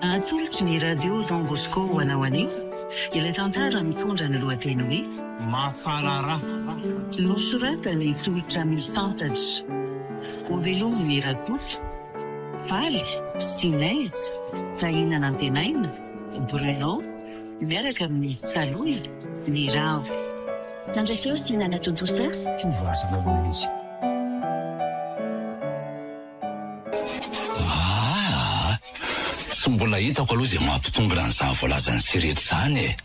Natolotry ny Radio Don Bosco ho anao anio ilay tantara mitondra ny lohateny hoe Mafararaha. Nosoratany Tolotra Misantatra. Hovelomin'i Rakoto, Faly, Sinez, Tahina Nantenaina, Bruno, miaraka amin'i Salohy, Ny Ravo. Tandray feo sy nanatontosa. Mpivazana ilay izy. Aah! Tsy mbola hitako aloha izay mampitongona an'izany voalazan'i Sirety izany e!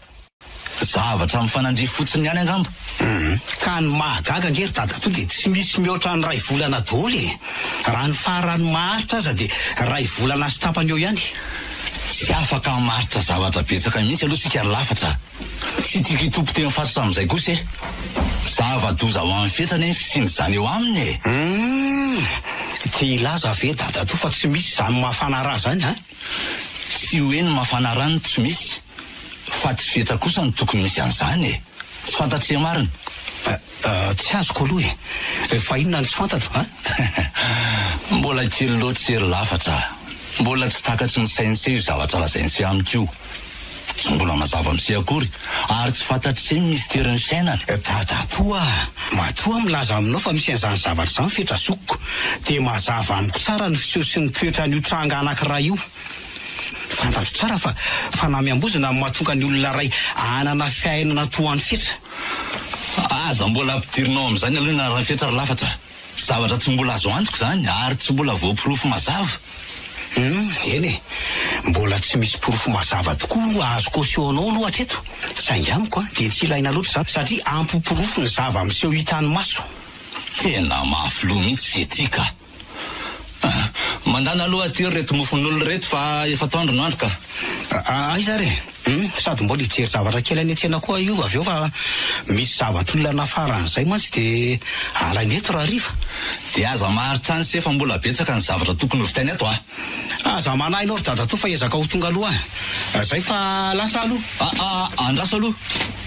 Zavatra mifanandria fotsiny ihany angamba. Hum, ka ny mahagaga ange ry dadatoa dia tsy misy mihoatra ny iray volana daholo e! Raha ny faran'ny maharitra aza dia iray volana sy tapany eo ihany. Tsy afaka hamaritra zavatra betsaka mihitsy aloha tsika ry lafatra. Tsy tiako hitopy teny Fatotra amin'izay kosa e! Zava-doza ho an'ny fetra anie ny fisian'izany eo aminy e! Humm! Te hilaza ve dadatoa fa tsy misy izany mafana ra izany an! Tsy hoe ny mafana ra no tsy misy fa tsy fetra kosa no tokony misy an'izany e! Tsy fantatria marina! Tsy azoko aloha e! Fa inona no tsy fantatro an? Mbola kely loatra sy ery lafatra aho. Mbola tsy takatry ny saintsy io zavatra lazaintsy amiko io. Tsy mbola mazava amintsy akory ary tsy fantatr'ise ny misterin'ny fiainana. Dadatoa a! Matoa milaza aminao fa misy an'izany zavatra izany fetra zokiko dia mazava amiko tsara ny fiseho sy ny toetran'io tranga anankiray io. Fantatro tsara fa fanamiam-bozona no mahatonga ny olona iray hanana fiainana toa an'i fetra. Aza mbola ampidirina ao amin'izany aloha ny anaran'i Fetra ry Lafatra. Zavatra tsy mbola azo antoka izany ary tsy mbola voaporofo mazava. Humm, eny e, mbola tsy misy porofo mazava tokoa azo caution-nao aloha hatreto. Saingy amiko dia tsy ilaina loatra izany satria ampy porofo ny zava-miseho hitan'ny maso. Tena mafy loha mihitsy ze ty ka! Mandana aloha aty ireto mofon'olona ireto fa efa atoandro no andro ka. Aiza ary e? Hum, sady mbola hijery zavatra kely any an-tsena koa io avy eo fa misy zavatr'olona nafaran'izay mantsy dia alaina eto raha hariva. Dia aza maharitra any se fa mbola betsaka ny zavatra tokony ho vitaina eto a. Aza manahy anao ry dadatoa fa ezaka ho tonga aloha a. Zay fa lasa aloha. Aa, andraso aloha.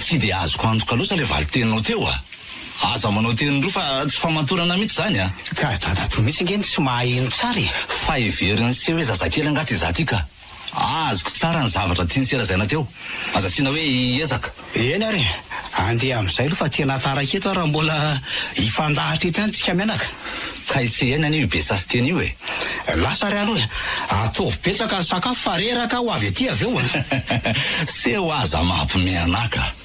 Tsy dia azoko antoka loatra ilay valin-teninao teo a. Aza manao teny roa fa tsy famatorana mitsy zany a! Ka dadatoa mitsy nge no tsy mahay hino tsara e! Fa heveriny se hoe zazakely angaha ty za ty ka! Azoko tsara ny zavatra tiany sy lazaina teo! Aza asiana hoe hiezaka! Eny ary e! Andeha amizay aloha fa tena taraiky eto ary raha mbola hifandahatra eto ihany tsika mianaka! Ka i Sehene anie io be sasiteny io e! Lasa ary aloha e! Ataovy betsaka ny sakafo fa reraka aho ho avy aty avy eo a! Seho aza maha mpimianaka!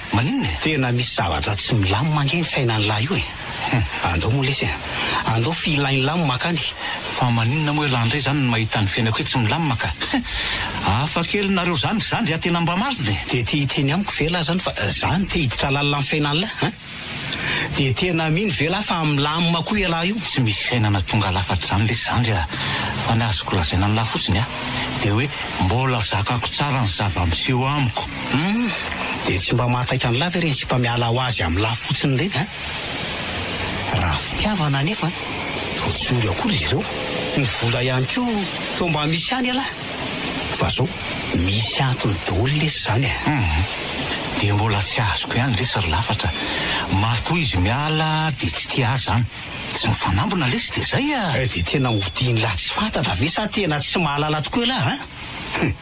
Maninona e? Tena misy zavatra tsy milamina ange ny fiainan'lah io e! Andao moa lesy e! Andao f'ilay nilamina akany! Fa maninona moa elah ndray zany ny mahita ny fiainako hoe tsy milamina ka! Hafa kely nareo zany, za ndry tena mba marina e! Dia te hiteny amiko ve lah zany fa za no te hiditra lalina amin'ny fiainan'lah an! Dia tena mino ve lah fa milamina koa elah io? Tsy misy fiainana tonga lafatra izany lesy za ndry a! Fa ny azoko lazaina an'lah fotsiny an! Dia hoe mbola zakako tsara ny zava-miseho amiko! Hum, dia tsy mba mahataitra an'lah ve ireny sipa miala ho azy amin'ny lah fotsiny ireny an? Raha fitiavana anefa vao tsy ory akory izy ireo. Ny vola ihany koa toa mba misy ihany elah fa zao misy antony daholo lesy izany e! Hum, dia mbola tsy azoko ihany lesy ry lafatra, matoa izy miala dia tsy tia ahy izany, tsy mifanambina lesy dia izay e! Dia tena odian'lah tsy fantatra ve sa tena tsy mahalala tokoa elah an? Hum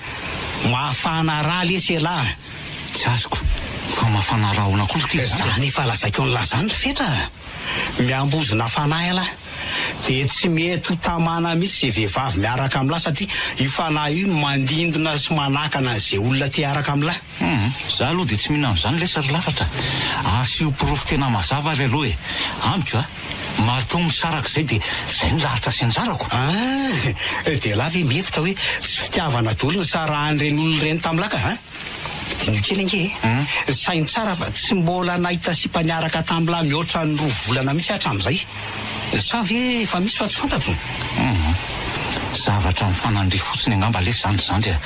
mafana ra lesy elah a! Tsy azoko fa mafana rahona koa ity za. Zany efa lazaiko anlah zany ry fetra a! Miambozona fanahy alah dia tsy mety ho tamana mihitsy izay vehivavy miaraka aminlah satria io fanahy io no mandindona sy manakana an'izay olona te hiaraka aminlah. Humm, za aloha dia tsy mino an'izany lesy ry lafatra a! Asio porofo tena mazava ary aloha e! Amiko a! Marto misaraka izay dia izay no lahatra sy anjarako! Ah! Dia ialahy ve mihevitra hoe tsy fitiavana daholo ny nisarahan'ireny olona ireny tamin'ny laka a! Diniho kely ange e! Saino tsara fa tsy mbola nahita sipa niaraka tamin'lah mihoatra ny roa volana mihitsy aho hatramin'izay! Sa ve efa misy fa tsy fantatro? Humm. Zavatra mifanandria fotsiny angamba lesy izany izany dia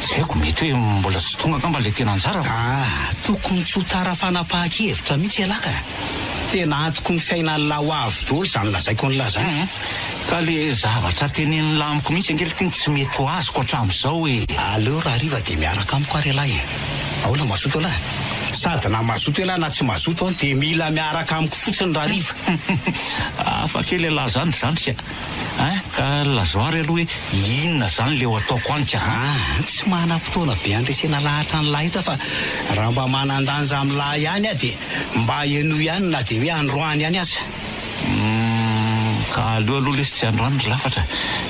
tsy haiko, mety hoe mbola tsy tonga angamba ilay tena anjarako. Ah, tokony tsy ho tara fanapahan-kevitra mihitsy ialahy ka! Tena antoko ny fiainan'lah ho avy daholo izany lazaiko an'lah izany. Humm. Ka le zavatra tenenin'lah amiko mihitsy ange le tena tsy mety ho azoko hatramin'izao e! Aleo rahariva dia miaraka amiko ary ialahy e! Ahoana mazoto ialahy? Sady na mazoto ialahy na tsy mazoto an dia mila miaraka amiko fotsiny rahariva. Hafa kely ialahy zany ry zandrika a! Ka lazao ary aloha hoe inona zany leo ataoko anka a! Tsy manam-potoana be handresena lahatra an'lah eto aho fa raha mba manan-danja amin'lah ihany aho dia mba henoy ihany na dia hoe androany ihany aza. Humm, ka aleo aloha lesy tsy androany ry lafatra.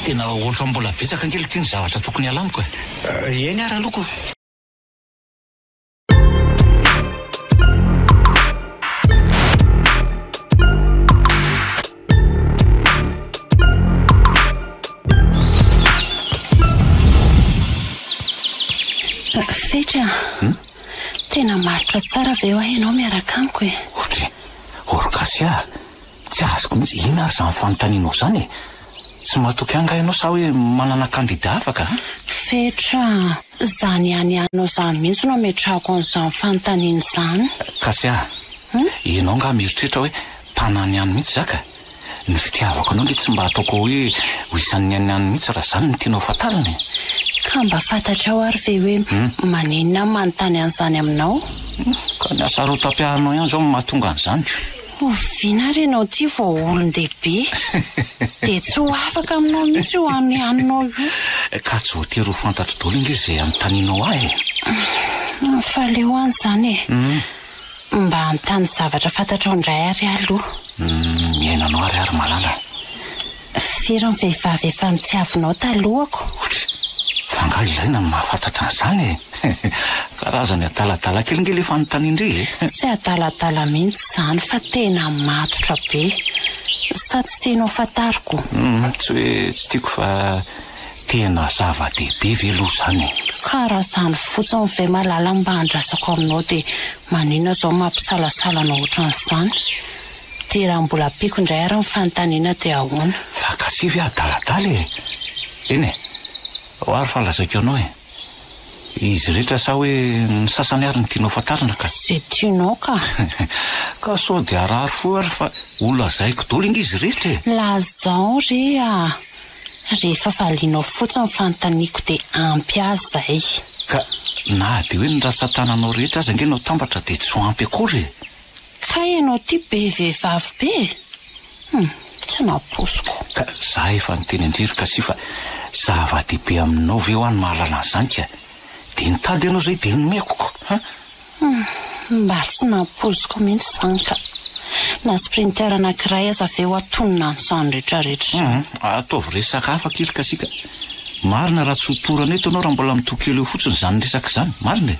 Tena ohatran'ny mbola betsaka ange aloha ity ny zavatra tokony halamiko e! Eny ary aloha ko. Fetra a! Tena marotra tsara ve hoa ianao miaraka amiko e? Orkasiaha, tsy azoko mihitsy inona ary izany fanontanianao izany e? Tsy matoky angaha ianao sa hoe manana kandida afaka? Fetra, Izany ihany ianao izany mihitsy no ametrahako an'izany fanontaniana izany. Kasia, Ianao angaha mieritreritra hoe tanany ihany mihitsy za ka? Ny fitiavako anao ange tsy mba ataoko hoe ho isan'ny ainy ihany mihitsy raha izany no tianao hofantarina e! Ka mba fantatrao ary ve hoe maninona aho manontany an'izany aminao? Ka ny hasarotam-piainanao ihany izao no mahatonga an'izany. Oviana ary ianao ity vao olon-dehibe dia tsy ho afaka aminao mihitsy io hanohaninao io. Ka tsy voatery ho fantatro daholo ange izay anontanianao ahy e. Fa aleo any izany e. Mba anontany zavatra fantatrao indray ary ahy aloha. Ny niainanao ary ahy ry malala e. Firy ny vehivavy efa nitiavinao talohako? Ouch! Fa angaha ilaina ny mahafantatra an'izany e? Karazany adaladala kely nge le fanontanian-dry e! Tsy adaladala mihitsy izany fa tena matotra be. Sa tsy tianao fantariko? Tsy hoe tsy tiako fa tena zava-dehibe ve aloha izany e? Ka raha izany fotsiny ve malala no mba andrasako aminao dia maninona izao mampisalasala anao ohatran'izany? Dia raha mbola ampiako indray ary ny fanontaniana dia ahoana? Fa gasia ve adaladala e? Eny e! Ao ary fa lazaiko anao e! Izy rehetra sa hoe ny sasany ary no tianao fantarina ka? Izay tianao ka! Ka sao dia harary fo ary fa holazaiko daholo ange izy rehetra e! Lazao re a! Rehefa valianao fotsiny ny fanontaniako dia ampy ahy izay. Ka na dia hoe ny ratsan-tananao rehetra aza ange no atambatra dia tsy ho ampy akory e! Kay ianao ity be vehivavy be e! Hum, tsy nampoiziko. Ka za efa niteny an-dry ry Cassie fa zava-dehibe aminao ve hoa ny mahalala an'izany ka dia nitady anao izay dia nomeko ko an! Hum, mba tsy nampoiziko mihitsy izany ka! Na sprinter anankiray aza ve ho atonina an'izany retraretra izany? Hum, ataovy resaka hafa akia ry Cassie ka! Marina raha tsy ho torana eto ianao raha mbola mitohy kely eo fotsiny izany resaka izany, marina e!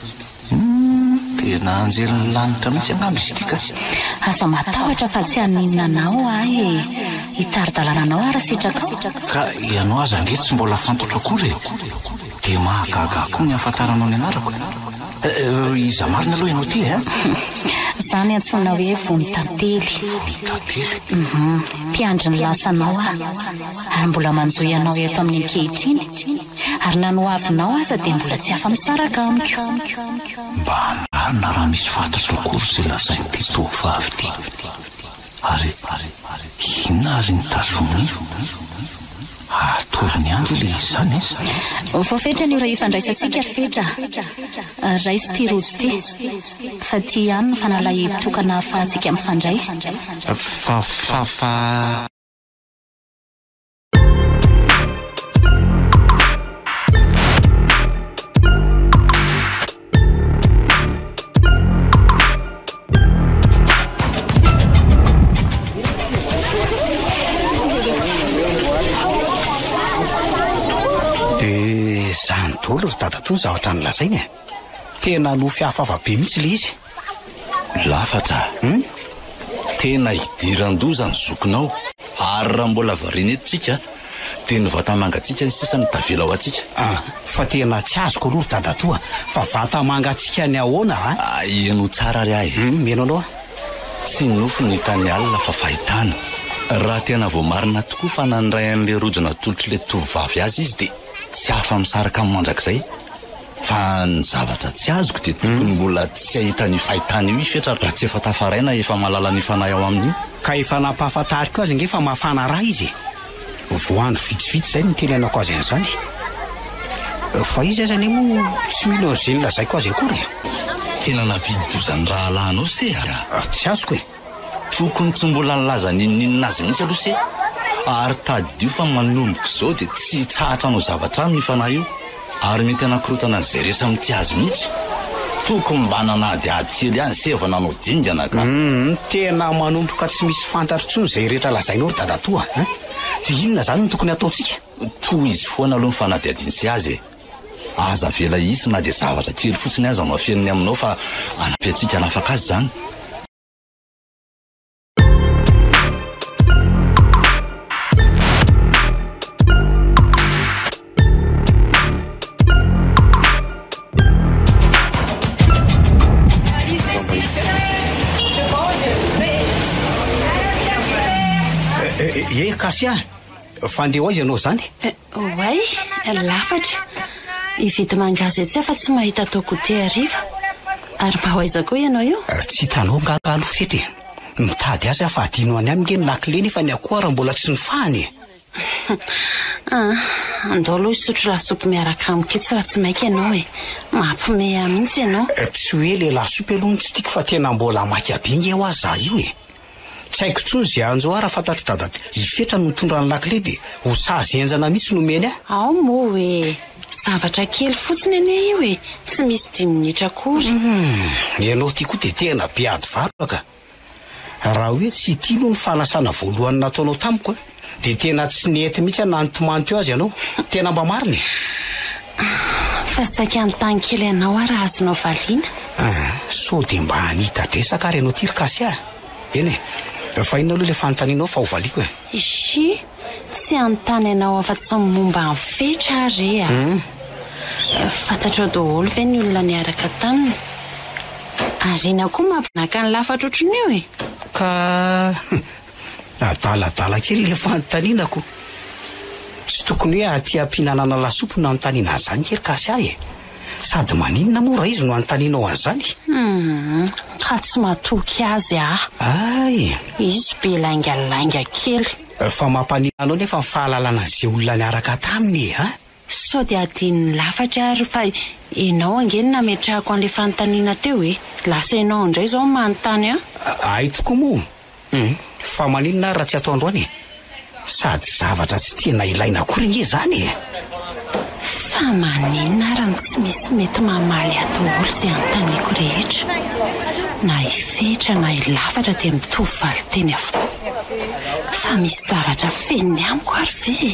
Humm dia nahanjely ny lanitra mihitsy angamba izy ity ka. Aza matahotra fa tsy haninona anao ahy e! Hitari-dalana anao aho raha sitrakao. Ka ianao aza ange tsy mbola fantatro akory e! Dia mahagaga ahy koa ny hahafantaranao ny anarako. Eh, iza marina aloha ianao ity eh? Izaho no antsoina hoe Vonitantely. Vonitantely. Humm, mpiandry ny lasanao aho. ary mbola manjohy anao eto aminy ankehitriny ary na ny ho avinao aza dia mbola tsy afa misaraka amiko. Mba anarina raha misy fantatro akory izay lazain'ity tovovavy ity. Ary inona ary ny tazominy? Atolony andry ilay izy izany e! Vao fetra ny ora hifandraisantsika ry Fetra a! Raiso ity rojo ity fa ity ihany no fanalahidy tokana ahafahantsika mifandray. Fa, fa, fa. Dia izany daholo ry dadatoa ny zavatra nolazainy e. Tena nofy hafahafa be mihitsy ilay izy. Lafatra a! Hum! Tena hidiran-doza ny zokinao. Ary raha mbola variana eto tsika dia ny vatamanga tsika ny sisa no tavela ho antsika. Ah! Fa tena tsy azoko aloha ry dadatoa fa vatamanga tsika ny ahoana a! Aheno tsara ary ahy e! Hum! Mihaino anao aho. Tsy nofy no hitan'ny alina fa fahitana. Raha tena voamarina tokoa fa nandray an'ilay rojo natolotr'ilay tovovavy azy izy dia tsy afa-misaraka aminy mandrakizay. Fa ny zavatra tsy azoko dia tokony mbola tsy hahita an'io fahitana io i Fetra raha tsy efa tafaraina efa mahalala ny fanahy ao aminy io. Ka efa nampahafantariko azy ange fa mafana ra izy e! Vao andro vitsivitsy izay no nitenenako azy an'izany. Fa izy aza anie moa tsy mino an'izay nolazaiko azy akory e! Tena nampidi-doza ny rahalahinao se a! Tsy azoko e! Tokony tsy mbola nilaza n'inon'inona azy mihitsy aloha se ary tadidio fa manomboka izao dia tsy hitsahatra hanao zavatra aminy io fanahy io ary mety hanakorontana an'izay rehetra mitia azy mihitsy. Tokony mba nanadihady kely ihany se vao nanao dingana ka. Humm tena manomboka tsy misy fantatro intsony izay rehetra lazainao ry dadatoa a! Dia inona izany no tokony hataontsika? Tohizo foana aloha ny fanadihadian'i se azy e! Aza avela hisy na dia zavatra kely fotsiny aza no afeniny aminao fa hanampy antsika hanafaka azy izany. Ye Kasia, fandeha ho aiza ianao izany? Oay, lafatra. Hividy mangahazo etsy aho fa tsy mahita atao goûter hariva. Ary mba ho aiza koa ianao io? Tsy hitanao angaha taloha fety e? Mitady azy aho fa adino any amiko ange ny lakile nefa ny akoho ara mbola tsy nifahana e! Aa, andao aloha hisotro lasopy miaraka amiko etsy raha tsy maika ianao e! Mampiomehy ahy mihitsy ianao. Tsy hoe ilay lasopy aloha no tsy tiako fa tena mbola maika be ange ho'a za io e! Tsy haiko intsony ze anjo ah raha fantatry dada i fetra no nitondra ny lakile de ho sazy henjana mihitsy no omeny ah. Ao moa hoe zavatra kely fotsiny anie io e, tsy misy dimy minitra akory. Humm, ianao ity koa dia tena be ady valo ka! Raha hoe tsy ity aloha ny fanasana voalohany nataonao tamiko an! Dia tena tsy nety mihitsy aho nanontimanty eo azy ianao. Tena mba marina e! Fa saika hanontany kely anao aho raha azonao valiana? Ah, sao dia mba hanita-dresaka ary ianao ity ry Kasia a! Eny e! Efa inona aloha ilay fanontanianao fa hovaliako e! Ishi, tsy hanontany anao afa-tsy ny momba an'i Fetra aho re a! Fantatrao daholo ve ny olona niaraka taminy? Ary inona koa mampinaka ny lafatra ohatran'io e! Ka. Adaladala kely le fanontaninako. Tsy tokony hoe aty ampihinanana lasopy no anontaniana an'izany kay ry Kasia e! Sady maninona moa raha izy no anontanianao an'izany? Hum, ka tsy matoky azy aho. Ay! Izy be laingalainga kely. Fa mampaninona anao nefa ny fahalalana an'izay olona niaraka taminy e! Sao dia adinon'ny lafatra ary fa ianao ange no nametrahako an'ilay fanontaniana teo e! Lasa ianao indray izao no manontany an! Ahy tokoa moa! Humm! Fa maninona ary raha tsy atao androany e! Sady zavatra tsy tena ilaina akory ange izany e! Fa maninona ary no tsy misy mety mamaly ahy daholo izay anontaniako rehetra? Na i Fetra na i Lafatra dia mitovy valinteny avokoa. Fa misy zavatra feniny amiko ary ve e?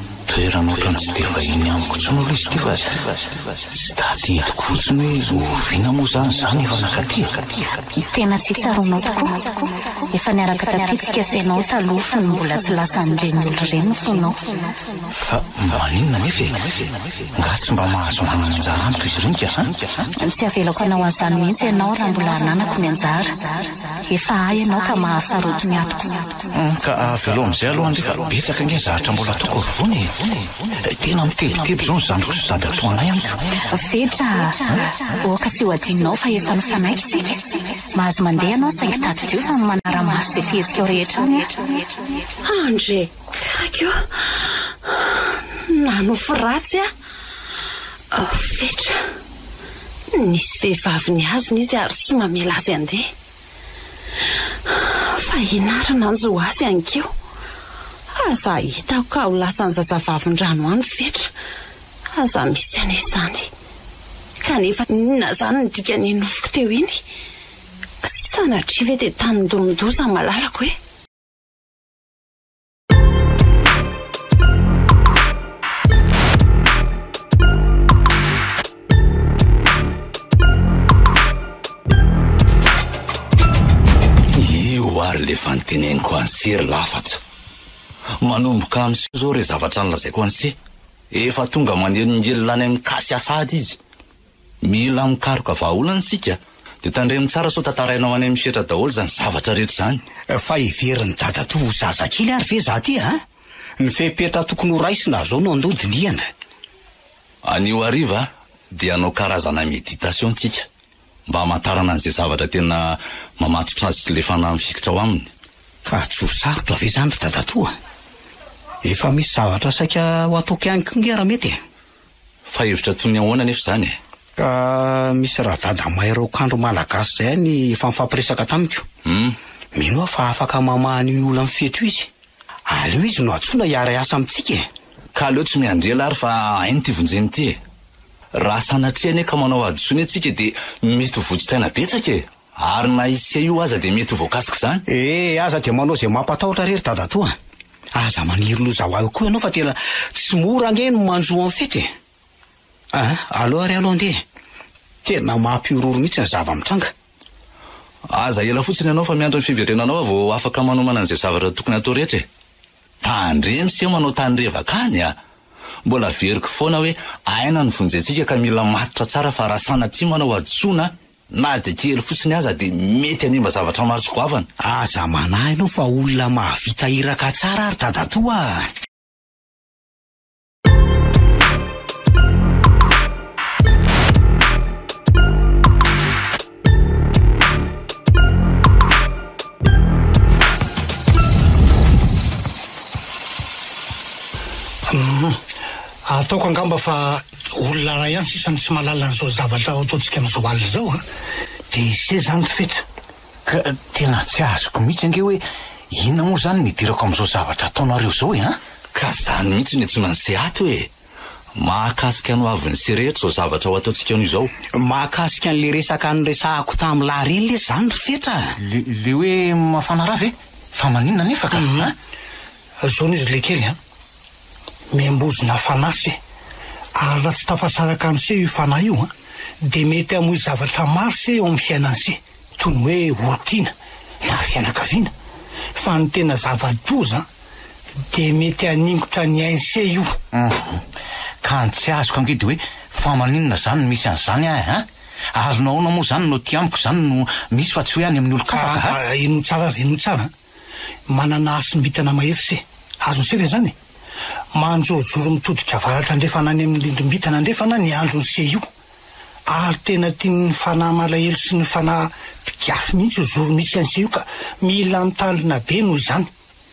Toerana otrany tsy dia vahiny amiko intsony aloha izy ity fa tsy daty entiko fotsiny hoe oviana moa izany izany efa nakaty e. Tena tsy tsaroanao tokoa. Efa niaraka taty tsika sy ianao taloha fony mbola tsy lasa an'ireny olona ireny ny fonao. Fa maninona anefa e? Nga tsy mba mahazo manana anjara amiko izy ireny ka sa? Tsy avelako hanao an'izany mihitsy ianao raha mbola hananako ny anjara. Efa ahy ianao ka mahasarotiny atiko. Humm ka avelao amizay aloha anie fa betsaka ange zahatra mbola ataoko afovoany e! Tena mitebiteby izao ny zandriko sy dada toanay amiko. Vedra ah! Oka tsy ho adinonao fa efa nifanaiky tsika. Mahazo mandeha ianao saingy tadidio fa ny manara-maso izay fihetsika-o rehetra any aho. Andre! Tsy haiko io. Nanofy ratsy aho. Fetra, nisy vehivavy nihazona izy ary tsy mamela azy handeha. Fa ianarana ny zo azy hankeo. Aza ahitako ka ho lasan'ny zazavavindrano any fetra. Aza misy anie izany. Kanefa inona izany ny dikan'iny nofiko teo iny? Sanatria ve dia tanin-doha-mendoza ny malalako e? teneniko anse ry lafatra manomboka amse zao re zavatra ny lazaiko anse efa tonga maneno ny elona any amin'ny kasy asady izy Mila mikaroka vahaolana isika dia tandremo tsara sao tatarainao any amin'ny fetra daholo izany zavatra rehetra izany. Fa heverin'i dadatoa ho zazakely ary ve za ty a? Ny fepetra tokony ho raisina zao no andoha dinihana. Anio hariva dia hanao karazana méditation tsika mba hamantarana an'izay zavatra tena mamatotra azy sy le fanahy mifikitra ao aminy. Ka tsy ho sarotra ve izany ry dadatoa? Efa misy zavatra saika ho ataoko ihany koa nge raha mety e! Fa hevitra toy ny ahoana anefa izany e? Ka misy radada mahay raokandro malagasy izay any efa nifampiresaka tamiko. Mino aho fa afaka mamaha an'io olan'ny fetro io izy. Aleo izy no antsoina hiara-hiasa amintsika e! Ka aleo tsy mianjela ary fa hainy ity vonjeny ity e! Raha sanatria anie ka manao hadisoa ny antsika dia mety ho vodin-tsaina betsaka e! Ary na isika io aza dia mety ho voakasik'izany. Ee, aza dia manao izay mampatahotra re ry dadatoa a! Aza maniry loza ho ahy koa ianao fa tena tsy mora ange ny manjo amin'ny fety e! Aa, aleo ary aloha andeha e! Tena mampihorohoro mihitsy ny zava-mitranga. Aza ela fotsiny ianao fa miandry ny fiverenanao aho vao afaka manomana an'izay zavatra tokony hatao rehetra e! Tandremo ise manao tany revaka any a! Mbola averiko foana hoe aina no vonjentsika ka mila matotra tsara fa raha sanatria manao hadisoana Na dia kely fotsiny aza dia mety hanimba zavatra maro sy goavana. Aza manahy enao fa olona mahavita iraka tsara ary dadatoa a! Ataoko angamba fa Olona iray ihany sisa no tsy mahalala an'izao zavatra ataontsika amin'izao alina izao an! Dia izay izany ny fetra. Ka tena tsy azoko mihitsy ange hoe inona moa izany no hidirako amin'izao zavatra ataonareo izao e an! Ka izany mihitsy no iantsoana ny se ato e! Mahakasika anao avy ny se rehetra izao zavatra ho ataontsika anao izao. Mahakasika an'ilay resaka niresahako tamin'i Lahary iny lesy izany ry fetra a! Le, le hoe mafana ra ve? Fa maninona anefa ka an! Zao noho izy ilay kely an! miambozona fanahy se, ary raha tsy tafasaraka amin' se io fanahy io an, dia mety hamoy zavatra maro se eo amin'ny fiainany se, toy ny hoe olon-tiana na fianakaviana, fa ny tena zava-doza an, dia mety haningotra ny ainy se io. Hum, ka ny tsy azoko ange dia hoe fa maninona izany no misy an'izany an an? ary nahoana moa izany no aty amiko izany no misy fa tsy hoe any amin'ny olon-kafa ka? Ka inoa tsara ary inoa tsara an! Manana hasim-bintana mahery se. Azony se ve izany? Manjorojoro mitodika avaratra andrefana any amin'ny rindrim-bintana andrefana ny andron'i se io. Ary tena tian'ny fanahy malahelo sy ny fanahy mpiafy mihitsy io zoro misy an'i se io ka mila mitandrina be noho izany.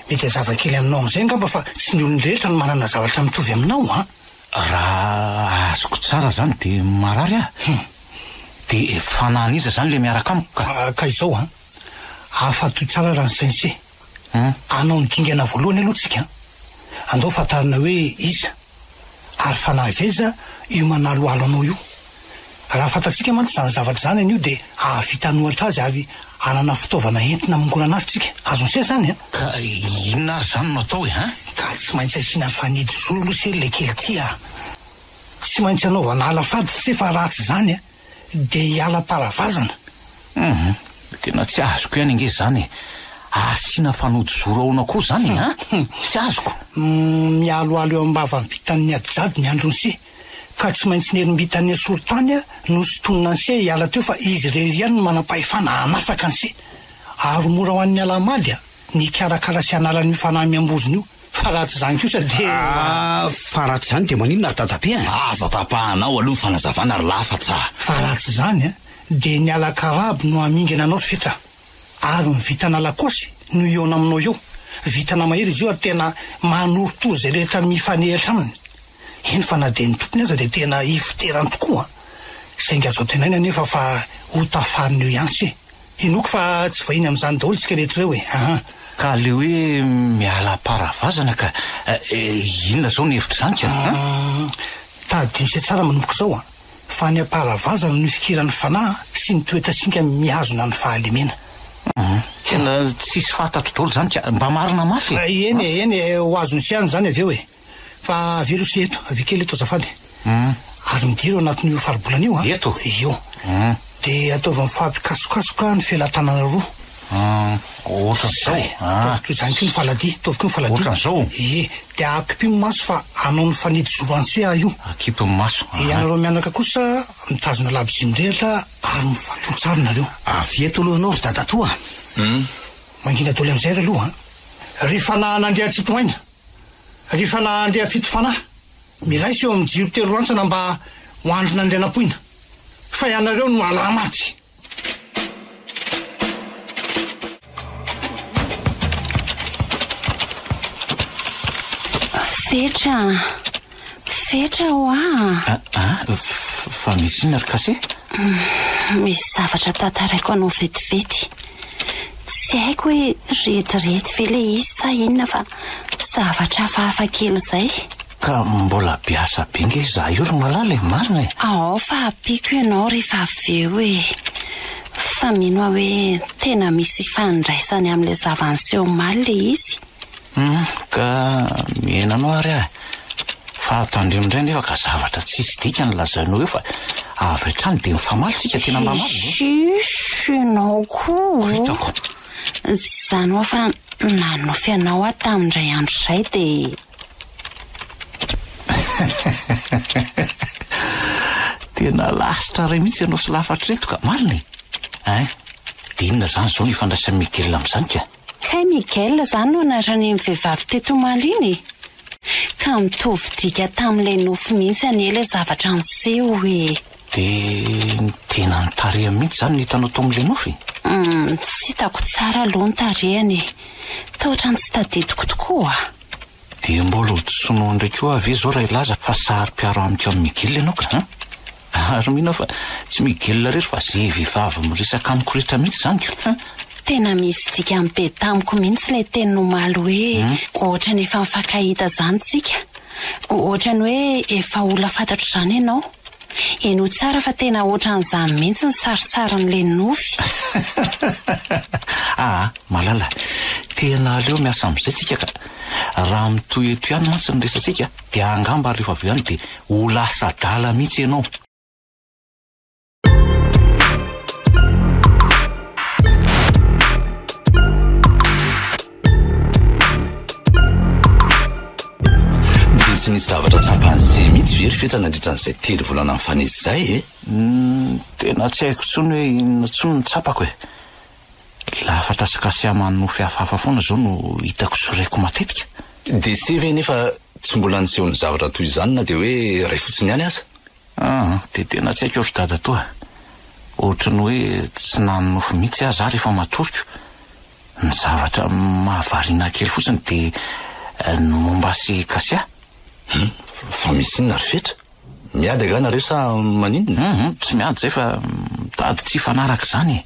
Mety hazava kely aminao amin'izay angamba fa tsy ny olon-drehetra no manana zavatra mitovy aminao an! Raha azoko tsara izany dia marary aho. Hum. Dia fanahin'iza izany ilay miaraka amiko ka? Ka izao an! Afa-to tsara raha ny Sensei hanao ny dingana voalohany aloha tsika. Andao fantarina hoe iza ary fanahy veza io manaloalo anao io. Raha fantatsika mantsy izany zavatra izany anio dia hahavita hanohatra azy ary hanana fitaovana entina mongorana azy tsika. Azon'i Seh izany an? Ka inona ary izany no atao e? Ka tsy maintsy asiana fanidy zoro aloha Seh ilay kely tia a! Tsy maintsy anaovana ala fady Seh fa raha tsy izany a! Dia hiala am-palavazana? Humm, tena tsy azoko ihany ange izany e! Asiana fanodizoro ahoana koa izany e? An? Tsy azoko! Mialoalo eo am-bavam-pitan'ny adijadiny andry Nosy, ka tsy maintsy nerim-bitan'ny Asolotany nosintonina anse hiala teo fa izy irery ihany no manam-pahefana hanafaka anse. Aro mora ho an'ny Alahamady an, ny hikarakara sy hanala an'io fanahy miambozona io. Fa raha tsy izany kosa dia. Ah, fa raha tsy izany dia maninona ry dadabe an? Aza tapahanao aloha ny fanazavana ry lafats ah. Fa raha tsy izany an, dia ny ala karabo no hamingana anao ry fets ah. Ary ny vintana lakosy no hihaona aminao eo. Vintana mahery izy io ary tena manorotoza izay rehetra mifanehatra aminy. eny fa na dia ny tompony aza dia tena hifoterany tokoa saingy azo antenaina anefa fa ho tafarina eo ihany se. Hinoako fa tsy vahiny amin'izany daholo isika rehetra ireo e! Ahaa. Ka ilay hoe miala am-paravazana ka inona izao ny hevitr'izany ka? Hum. Tadidio se tsara manomboka izao a! Fa any am-paravazana no ifikiran'ny fanahy sy ny toetrasinga mihazona ny fahalemena. Hum. Tena tsisy fantatro daholo izany ka! Mba marina mafy e! Eny e, eny e, ho azontsika ihany izany avy eo e! Fa avela ose eto, avia kely eto azafady. Ary midiro anatin'io faribolana io a. Eto? Io. De ataovy mifampikasokasoka ny felatanana roa. Ohatran'izao. Ataovy toy izany koa ny faladia, ataovy koa ny faladia. Ohatran'izao? Ie, de akipy ny maso fa hanao ny fanidy zo anse aho io. Akipy ny maso. Ianareo mianaka kosa mitazona labozia mirehatra ary mifatoha tsara nareo. Avia eto aloha ianao ry dadatoa a. Mangina doly amin'izay ry aloha a. Ry fanahin'Andriantsitohaina. rehefa nahandry afito fanahy, miraisa eo amin'ny jiro telo rantsana mba ho andrina andrianampoina, fa ianareo no halahy maty. Fetra. Fetra hoa a! A! Fa misy inona ry Kase? Misy zavatra tantaraiko anao vetivety. Tsy haiko hoe retirety ve ilay izy sa inona fa zavatra hafahafa kely izay. Ka mbola be asa be ange izaho io ry Malala e, marina e! Ao fa ampiako ianao rehefa avy eo e! Fa mino aho hoe tena misy ifandraisany amin'ilay zava-niseho omaly ilay izy. Hum, ka mihena anao ary aho e. Fa ato andrimo indray anefa ka zavatra tsisy dikany ny lazainao eo fa avy hatrany dia mifamaly tsika tena mba mafy ve? Shush, ianao koa ô. Hitako. Izany hoa fa nanofy anao aho tamin indray andro izay dia. Tena lasitra iray mihitsy ianao sy lafatra ireto ka. Marina e. Hein, dia inona izany izao no ifandraisan'i Miguel amin'izany ka? Kay Miguel izany no anaran'iny vehivavy teto omaly iny e! Ka mitovy dika tamin'ilay nofy mihitsy anie ilay zavatra niseho e! Dia ny tenan'ny tarehiny mihitsy izany no hitanao tao amin'ilay nofy? Humm, tsy hitako tsara aloha ny tarehiny e! Toa ohatran'ny tsy tadidiko tokoa a! Dia mbola ho disonao indray koa ve izao raha hilaza fa saro-piaro amiko amin'i Miguel ianao ka an! Ary mino aho fa tsy Miguel irery fa ze vehivavy miresaka amiko rehetra mihitsy izany ko. Tena misy dikany be tamiko mihitsy ilay teniny omaly hoe ohatrany efa nifankahita izany tsika. Ohatrany hoe efa olona fantatro izany ianao. Henoy tsara fa tena ohatran'izany mihitsy ny sarintsarin'ilay nofy. Aa malala, tena aleo miasa amin'izay tsika ka. Raha mitohy eto ihany mantsy ny resatsika Dia angamba ary rehefa avy eo any dia ho lasa adala mihitsy ianao. Dia tsy nisy zavatra tsapan'i Zé mihitsy ve ry Fetra nandritra an'izay telo volana nifanesy izay e? Tena tsy haiko intsony hoe inona intsony no tsapako e. Lafatra sy kasia manonofy hafahafa foana izao no hitako sy reko matetika. DC ve nefa tsy mbola niseho ny zavatra toy izany na dia hoe iray fotsiny ihany aza? Ah, dia tena tsy haiko ry dadatoa. Ohatry ny hoe tsy nanonofy mihitsy aho za rehefa matoriko. Ny zavatra mahavariana ahy kely fotsiny dia ny momba sy kasia. Humm, fa misy inona ry fetra? Miady angaha nareo sa maninona? Humm tsy miady zay fa mitady tsy hifanaraka izany e!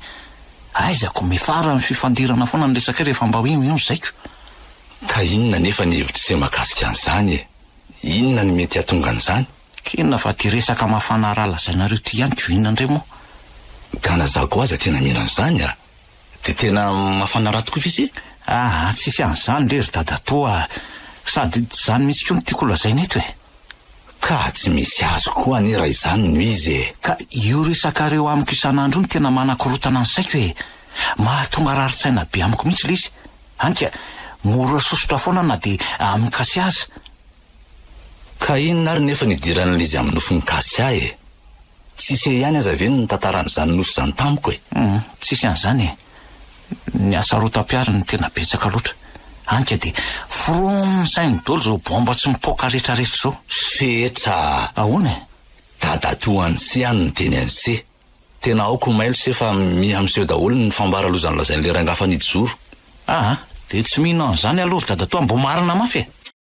Aizako, mifara ny fifandirana foana ny resakay rehefa mba hoe mion zaiko. Ka inona anefa ny hevitr'ise mahakasika an'izany e? Inona no mety hahatonga an'izany? Kena fa tia resaka mafana raha lazainareo ity ihany ko inona indray moa? Ka na za koa aza tena mino an'izany a! Dia tena mafana raha tokoa ve se? Ah, tsisy an'izany re ry dadatoa ah! Sady tsy izany mihitsy koa no tiako holazaina eto e! Ka tsy misy azy koa anie raha izany no izy e! Ka io resakareo amiko isan'andro io no tena manakorontana ny saiko e! Mahatonga rarin-tsaina be amiko mihitsy ilay izy. Hany ka, mora sosotra foana na dia amin-kasy aza. Ka inona ary nefa ny idiran'ilay izy amin'ny nofon'i Kasia e? Tsy se ihany aza ve no nitantara an'izany nofy izany tamiko e? Humm, tsisy an'izany e! Ny asarotam-piaro no tena betsaka loatra. Hany ka dia foromm ny sain'ny dolo izao baomba tsy mipoaka rehetra rehetra izao. Fetra a! Ahoana e? Dadatoa an'i Se ihany no niteny an'i Se. Tena aoka ho mailo Se fa miha miseho daholo ny fambara loza nolazain'ilay rangahy fanidizoro. Aa, dia tsy mino an'izany aloha ry dadatoa mbo marina mafy e!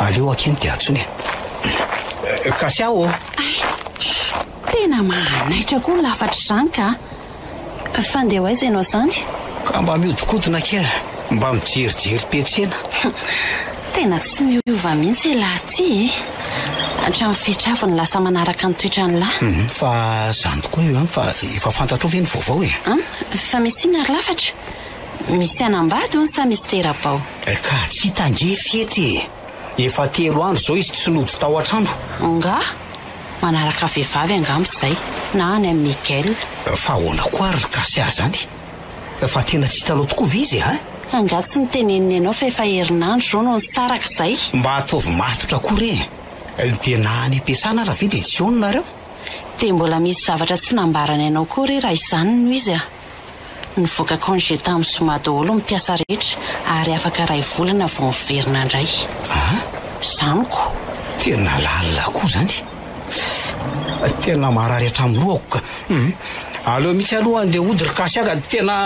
Aleo akeny dia antsoina e. Eh, Kasia ô! Ay, tena mahanaitra koa lafatra izany ka. Fa ndeha ho aiza ianao zandry? Ka mba mihodinkodina kely, mba mijerijery toe-tsena. Tena tsy miova mihitsy i lahy ity e. Hatramin'ny fetra avy no lasa manaraka ny toetran'ny lahy. Hum, Fa izany tokoa io an, fa efa fantatrao ve ny vaovao e? An, fa misy inona ry lafatra? Misy hanambady hono sa misy tera-bao? Ka tsy hita ange fetra e! Efa telo andro izao izy tsy nody tao an-trano. Angaha? Manaraka vehivavy angamba izay, na any amin'i Miguel. Fa ahoana koa ary ry Kasia izany? Fa tena tsy hitanao tokoa ve izy an? Angaha tsy noteneniny ianao fa efa herinandro izao no nisaraka izay? Mba ataovy matotra koa re e! Dia na any am-piasana ary ve dia tsy ao ny nareo? Dia mbola misy zavatra tsy nambarany anao koa re raha izany no izy an? Nivoaka congé tamin'ny zoma daholo ny mpiasa rehetra ary afaka iray volana vao miverina indray. Ah? Za amiko. Tena lalina koa zany. Fy! Tena marary hatramin'ny lohako ka. Hum. Aleo mihitsy aloha andeha hody ry Kasia ka. Tena.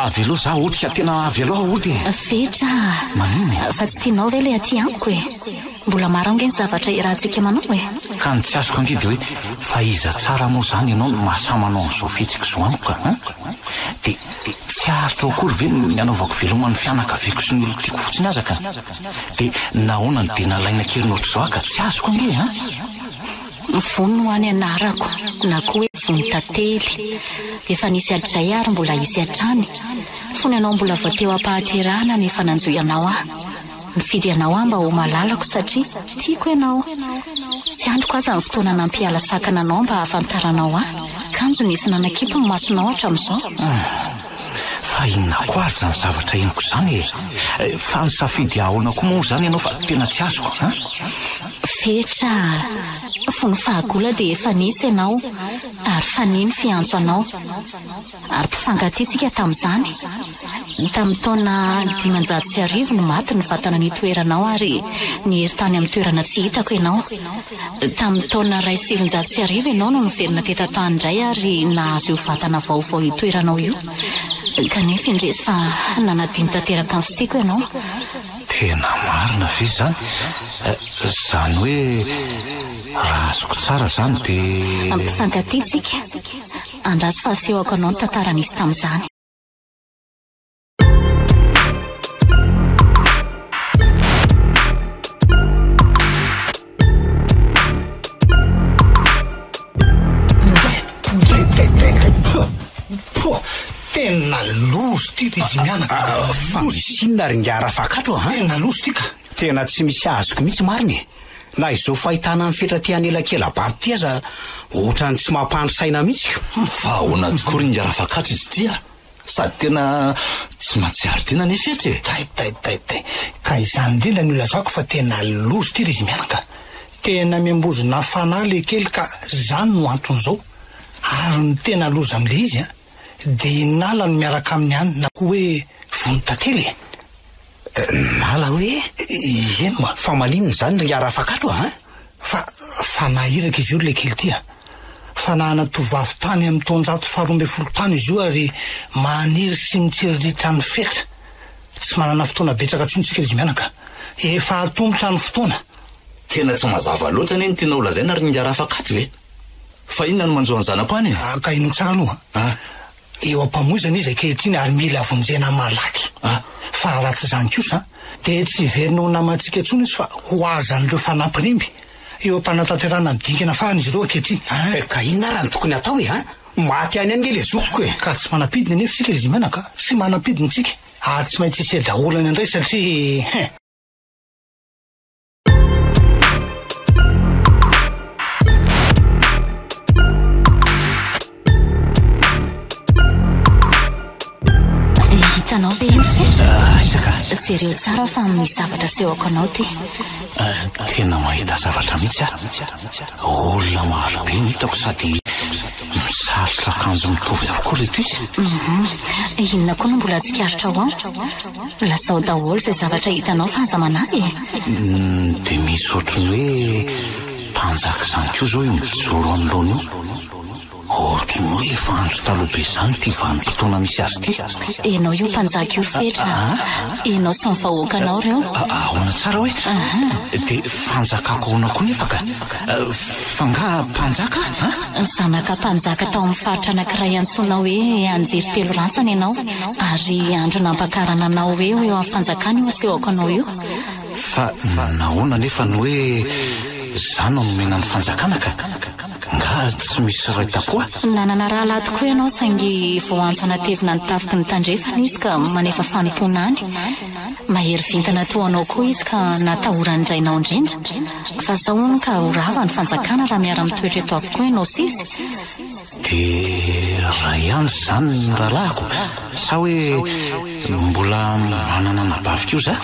avelao za otika tena avelao ody fetra maninona fa tsy tianao ve le aty amiko e Mbola maro ange ny zavatra iarahantsika manao e! Ka ny tsy azoko ange dia hoe fa iza tsara moa izany ianao no mahasahy manao an'izao fihetsiko izao amiko a! An! Dia tsy haharitao akory ve ny hanaovako veloma ny fianakaviako sy ny olon-tiako fotsiny aza ka! Dia nahoana no dia nalaina kely nohatr'izao aho ka! Tsy azoko ange an! Vonona ho any anarako na koa hoe vonona tantely. Efa nisy hatrizay ary mbola hisy hatrany. Fony ianao mbola vao teo am-pahaterahana no efa nanjohy anao aho. Mifidy ianao aho mba ho malalako satria tiako ianao. Tsy andriko aza ny fotoana nampiala sakana anao mba hahafantaranao ahy, kanjo nisy nanakipy ny masonao hatramin'izao. Fa inona koa ary izany zavatra henoko izany e? Fa nisafidy hahaona koa moa izany ianao fa tena tsy azoko an? Fetra, fony fahagola dia efa nisy ianao ary fanihy ny fiantso anao. ary mpifankatia-tsika tamin'izany. Tamin'ny taona dimanjato sy arivo no maty ny vatana nitoeranao ary niery tany amin'ny toerana tsy hitako ianao. Tamin'ny taona iray sy sivinjato sy arivo ianao no niverina teto an-tany indray ary nahazo io vatana vaovao itoeranao io. Kanefa indrisy fa nanadino tanteraka ny fisiako ianao. Tena marina ve izany? Izany hoe raha azoko tsara izany dia. Mpifankatia-tsika. Andraso fa asehoko anao ny tantara nisy tamin'izany. Tena loza ity ity Jimiana. Ah, ah, ah, fa misy inona ry ngara fakatro a? Tena loza ity ka. Tena tsy misy azoko mihitsy marina e. Na izao fahitana an'i Fetra te hanelakela bado ty aza otrany tsy mampandry saina mitsy ko. Fa ahoana tokoa ry Ingahy Rafakatso izy ity a! Sady tena tsy mahatsiaro dina anie Fetra e! Taitaitaitay! Ka izany indrindra no ilazako fa tena loza ity ry izy mianaka! Tena miambozona fanahy le kely ka zany no antony zao! Ary ny tena loza amin'le izy a! Dia i Nala no miaraka aminy any na koa hoe vono tantely e! Nala hoe, Eny moa, fa maninona izany ry ngah Rafakato a? Hein? Fa, fa naha iraka izy io ry lekely ty a! Fa naha ana-tovovavy tany amin'ny taonjato faharoa ambin'ny folo tany izy io ary maniry sy mitsiriritra ny fetra. Tsy manana fotoana betsaka intsony isika izy mianaka. Efa hatomboka ny fotoana. Tena tsy mazava loatra anie ny tianao lazaina ry ngah Rafakato e! Fa inona no manjo an'i zanako any e? Ka inona tsara aloha? An? Eo am-pamoizana izy ankehitriny ary mila vonjena malaky. Fa raha tsy izany kosa dia tsy hiverina ho namantsika intsony izy fa ho azan'ireo fanampin'imby. Eo am-panatanterahana ny dingana farany izy ireo ankehitriny. Ka inona ary no tokony hatao e? Maty any ange ilay zokiko e! Ka tsy manam-pidiny anefa isika Rizimana ka. Tsy manam-pidiny isika ary tsy maintsy hisiadaholana indray satria he! Jereo tsara fa amin'ny zavatra sehoko anao ty. Eh, tena mahita zavatra mihitsy aho. Olona maro be ny hitako sady misarotra akanjo mitovy avokoa reto izy. Mhm. Inona koa no mbola tsikaritra ho aho? Lazao daholo izay zavatra hitanao fa aza manahy e! Uhm, dia misy ohatran'ny hoe mpanjaka izany koa izao io mijoro anoloana io. Ohatran'ny hoe efa andro taloha be izany ity vanim-potoana misy azy ity. Ianao io mpanjaka io fetra. Ianao sy ny vahoakanao ireo. Ahoana tsara hoe? Dia fanjakako ahoana koa nefa ka? F'angaha mpanjaka? An? Zanaka mpanjaka tao amin'ny faritra anankiray antsoina hoe Anjery Telo Rantsana ianao, ary andro nampakarana anao hoe ho eo amin'ny fanjakana io asehoko anao io. Fa nahoana anefa no hoe izaho no nomena ny fanjakana ka? Angaha tsy misy ray tapoha? Nanana rahalahy tokoa ianao, saingy vao antso hanatevina ny tafiky ny tandrefana izy ka manefa fanompoana any. Mahery vintana toa anao koa izy ka natahoran'ny rainao indrindra fa sao hono ka ho rava ny fanjakana raha miara mitoetra eto avokoa ianao sisa? Dia raha ihany izany ny rahalahiko? Sa hoe mbola manana anabavy koa za?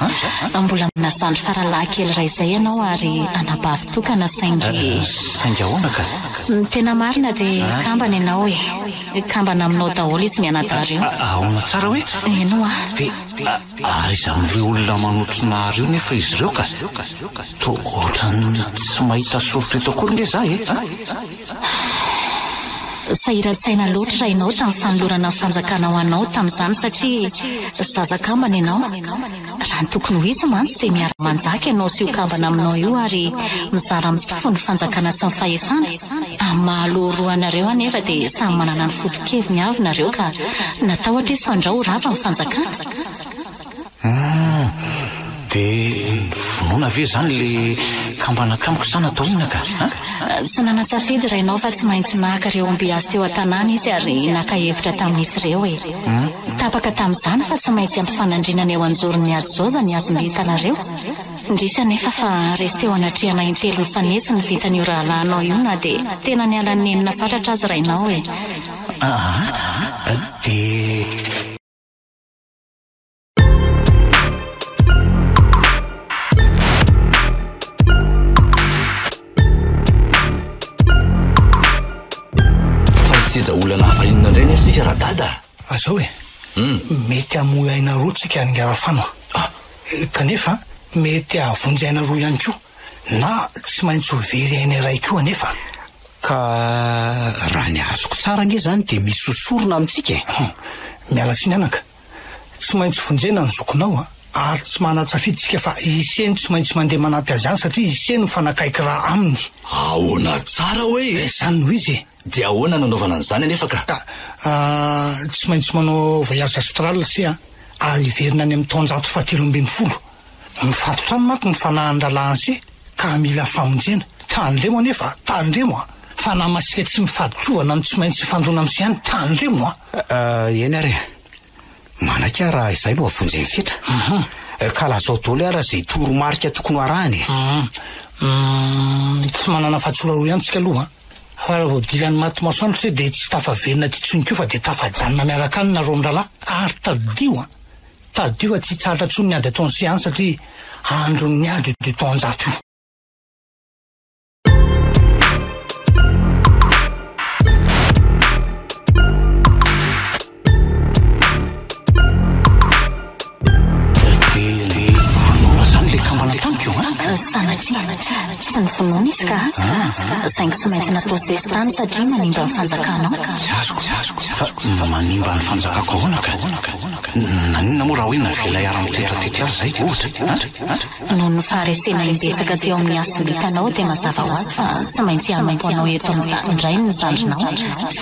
Mbola manana zandry faralahy kely iray izay ianao ary anabavy tokana saingy. Saingy ahoana ka? Ny tena marina dia kambana ianao e! Kambana aminao daholo izy mianadahy ireo. Ahoana tsara hoe? Henoa. Aiza amin'ireo olona manotrona ahy ireo nefa izy ireo ka? Toa ohatran'ny tsy mahita soritra eto akory nge za e! Sahiran-tsaina loatra raha ianao tamin'ny fanolorana ny fanjakana ho anao tamin'izany satria zaza kambana ianao. Raha ny tokony ho izy mantsy dia miara-manjaka ianao sy io kambana aminao io ary mizara amin'ny tompon'ny fanjakana sy ny fahefana. Amin'ny maha aloha roa anareo anefa dia samy manana ny foto-keviny avy nareo ka natahotra izy fa ndrao ho rava ny fanjakana. Humm! Dia vonoina ve izany ilay kambana tamiko sa natao inona ka an? Tsy nanantsafidy rainao fa tsy maintsy naka ireo ombiasy teo an-tanàna izy ary naka hevitra tamin'izy ireo e! Tapaka tamin'izany fa tsy maintsy ampifanandrinana eo an-joron'ny ady zao izany hazom-bitanareo. Indrisy anefa fa resy teo anatrehana intelo nifanesy ny vintan'io rahalahinao io na dia tena niala ny nenina fatratra aza rainao e! Aa! Dia. Fa ny sedra olana hafa inona indray nefa isika Radada a? Azao e! Mety hamoy aina roa tsika ry Ngarafano a! Kanefa mety hahavonjy aina roa ihany koa, na tsy maintsy ho very aina iray koa anefa an! Ka raha ny azoko tsara ange izany dia misy ho sorona amintsika e! Hum! Miala tsiny anaka! Tsy maintsy vonjena ny zokinao an! Ary tsy manan-tsafidy isika fa ise no tsy maintsy mandeha manampy azy any satria ise no mifanakaiky ra aminy! Ahoana tsara hoe e? Izany no izy e! Dia ahoana no anaovana an'izany anefa ka? Ka, ah, tsy maintsy manao voyage astral sy a a hiverina any amin'ny taonjato fahatelo ambin'ny folo. Mifatotra aminy manko ny fanahin'ny rahalahin sy ka mila famonjena. Tandremo anefa a! Tandremo a! Fanahy Masika tsy mifadin-tsovana no tsy maintsy hifandona amin'sy ihany. Tandremo a! Ah, eny ary e. Manakà raha izay no avonjy ny fetra. Mhm. Eh, ka lazao daholo ara izay toromarika tokony ho arahana e. Mhm. Mm, tsy manana fahatsola roa ihany tsika aloha. Fa raha vao dilan'ny maty masoandro se dia tsy tafaverina aty intsony koa fa dia tafajanona miaraka any nareo mirahalahy. Ary tadidio an! Tadidio fa tsy hitsahatra intsony ny ady ataon'i Sian satria andron'ny ady io taonjato io. saingy tsy maintsy natao sesitany satria manimba ny fanjakanao fa manimba ny fanjakako ahoana ka nanina moa raha hoe navela hiara-mitoetra tety azy zay ohatra Noho ny faharesena imbetsaka teo amin'ny hasim-bitanao dia mazava ho azy fa tsy maintsy hanompo anao eto amin'ny tany indray ny zandrinao.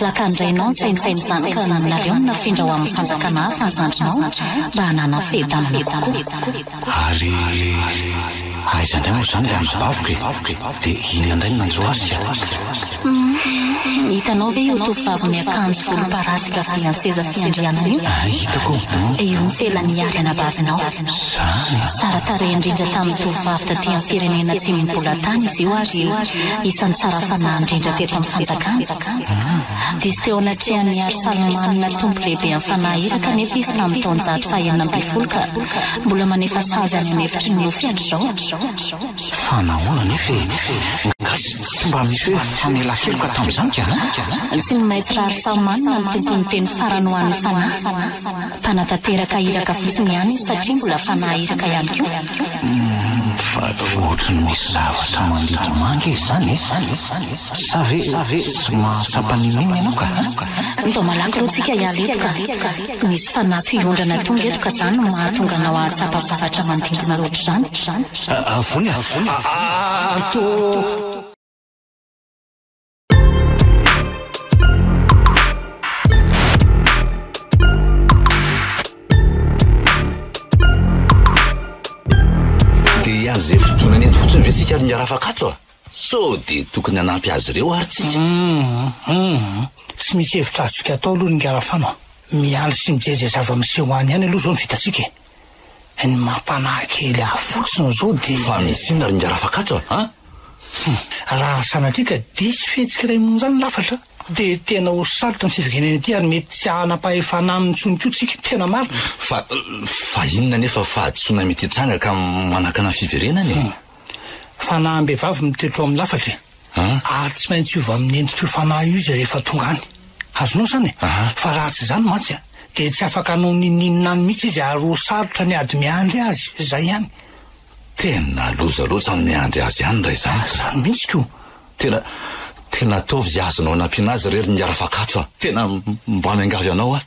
Zakan-drainao ny saintsainy izany ka nonareo ny nafindra ho amin'ny fanjakana hafa ny zandrinao mba hanana fiadanana kokoa. Ary aiza indray moa izany ilay anabaviko e? Dia inona indray no nanjo azy ka? Hum, hitanao ve io tovovavy miakanjo volomparasy gavy an-seza fiandrianana io? Ah, hitako. Io ny felan'ny hiady anabavinao. Izany? Tsara tarehy indrindra tamin'ny tovovavy taty amin'ny firenena atsimon'ny bolatany izy io ary isan'ny tsara fanahy indrindra teto amin'ny fanjakana. Diso teo anatrehan'i Iarsalmanina tompo lehiben'ny fanahy iraka anefa izy tamin'ny taonjato fahenina ambin'ny folo ka mbola manefa sazy any an'efitry ny nofy hatr'izao. Fa nahoana anefa e? Tsy mba misy hoe famelan-keloka tamin'izany ka an? Tsy ny Maître Ary Salman no tompon'ny teny farany ho an'ny fanahy. Mpanatanteraka iraka fotsiny ihany izy satria mbola fanahy iraka ihany koa. Fa ohatran'ny misy zavatra mangidy manga izy izany e! Sa ve tsy mahatsapa n'inon'inona ianao ka an? Andao malaky aloha tsika hiala eto ka! Nisy fanahy fiondrana tonga eto ka zany no mahatonga anao ahatsapa zavatra manodidina loatr'izany. Avony ato. Dia hiany izay fotoana nety fotsiny ve tsika ary ny hiarafaka ato a? Sao dia tokony hanampy azy ireo ary tsika? Humm humm tsy misy hevitra azontsika atao aloha ry Ngarafano a! Miandry sy mijery izay zava-miseho any ihany aloha izao no vitantsika e! Ny mampanahy kely ahy fotsiny izao dia. Fa misy inona ry Ngarafakatso a? Humm raha sanatria ka diso fihetsika iray monja ny lafatra dia tena ho sarotra ny fiverenana ety ary mety tsy hanam-pahefana aminy intsony koa tsika, tena marina! Fa fa inona anefa fahadisoana mety hitranga ka manakana ny fiverenana e? Fanahy am-behivavy mitoetra ao amin'ny lafatra e. Ary tsy maintsy hiova amin'ny endrik'io fanahy io izy rehefa tonga any. Azonao izany e? Fa raha tsy izany mantsy dia tsy afaka hanao n'inon'inona any mihitsy izy ary ho sarotra ny ady miandry azy. Izay ihany. Tena loza loatra ny miandry azy any raha izany. Izany mihitsy ko. Tena, tena ataovy izay azonao hanampiana azy irery ny Rafakato fa tena mba miangavy anao aho.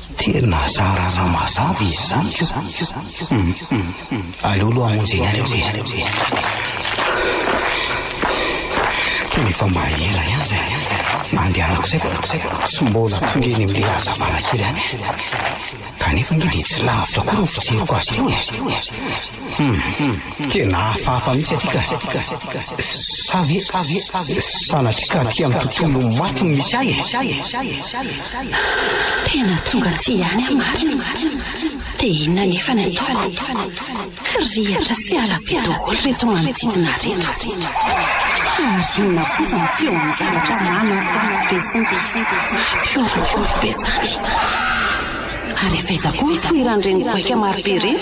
Tena zara mazava izy izany ko. Aleo aloha hamonjy anareo e. Tena efa mba ela ihany izay nandehanako izay fa tsy mbola tonga eny amin'ilay hazavana kely any aho. Kanefa ange dia tsy lavitra akory ny fijeriko azy ity. Tena hafahafa mihitsy aty ka. Sa ve sanatria ka aty amin'ny tontolo maty no misy ahy e? Tena tonga aty ihany aho marina. Dia inona anefa ny ataoko? Kirihitra sy halabe daholo ireto manodidina ahy ireto. Fa ary inona kosa ny feo amin'ny zavatra manakorontana be sy mampihoronkory be izany? Ary efa aiza koa ny fohiran'ireny goaika marobe ireny?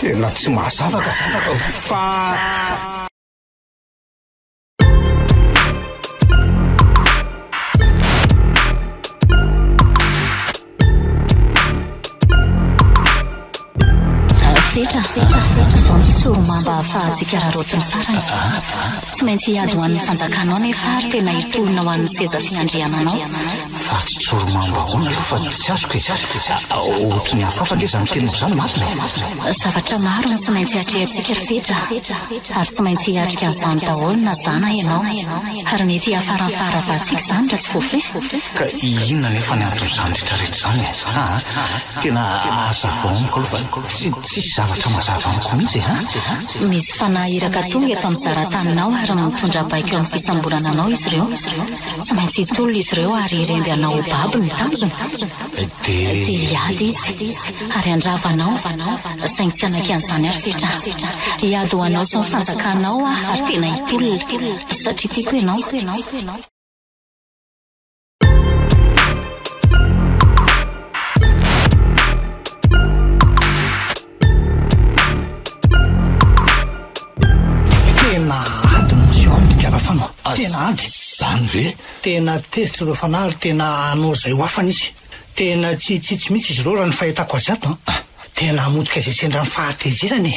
Tena tsy mazava ka zavatra io fa. Fetra, fetra, fetra, izao ny sorimamba ahafahantsika raraoty ny farany. Tsy maintsy hiady ho an'ny fanjakanao nefa ary tena hitolona ho an'ny seza fiandriananao. Ry Tsoromambahoana aloha fa tsy azoko e. Ohatry ny hafahafa ange izany teninao izany Marina e. Zavatra maro no tsy maintsy atrehantsika ry Petra ary tsy maintsy hiatrika an'izany daholo na za na ianao. Ary mety hiafara amin'ny faharavantsika izany raha tsy voafehy. Ka inona anefa ny anton'izany retraretra izany e? Aa tena hazavao amiko aloha fa tsy tsisy zavatra mazava amiko mihitsy e aa. Misy fanahy iraka tonga eto amin'ny zara-taninao ary mitondra baiko amin'ny fisamborana anao izy ireo. Mantsy tolona izy ireo ary iremby hanao ho babo ny tanjona. Dia hiady izy ary handrava anao, saingy tsy hanaiky an'izany ary fetra. Hiady ho anao sy ny fanjakanao aho ary tena hitolona, satria tiako ianao. Tena ady no miseho amiko ry Arafano a! Tena ady! Izany ve? Tena tezitra ireo fanahy ary tena hanao izay ho afany izy. Tena tsy hitsitsy mihitsy izy ireo raha ny fahitako azy ato a! Tena hamotika izay sendra ny fahatezerany e!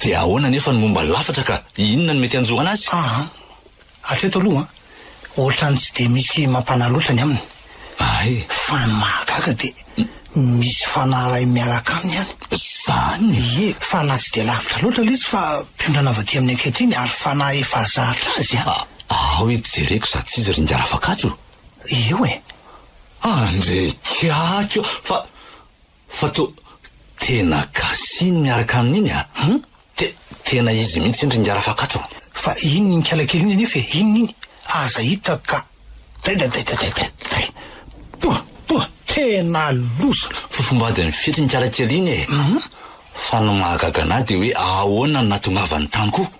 Dia ahoana anefa ny momba ny lafatra ka? Inona no mety hanjo an'azy? Aa! Hatreto aloha ohatrany tsy dia misy mampanahy loatra ny aminy. Ay. Fa ny mahagaga dia misy fanahy iray miaraka aminy any. Izany? Ie, fa na tsy dia lavitra loatra ilay izy fa mpiondrana avy aty amin'ny ankehitriny ary fanahy efa zatra azy an! Ao e, jereko izaho tsy izy ry Ingahy Rafakatso. Eo e! Andeha kiaky eo fa. Fa to tena gasy-ny miaraka amin'iny a! Hum! Te tena izy mihitsy iny ringahy Rafakatso a! Fa iny nikala kely iny anefa e! Inona iny? Aza hita ka! Taitaitaitaitaitai! Toa! Toa! Tena loza! Fofombadin'ny fitry nikala kely iny e! Hum! Fa ny mahagaga an'ahy dia hoe ahoana no nahatongavany tany koa?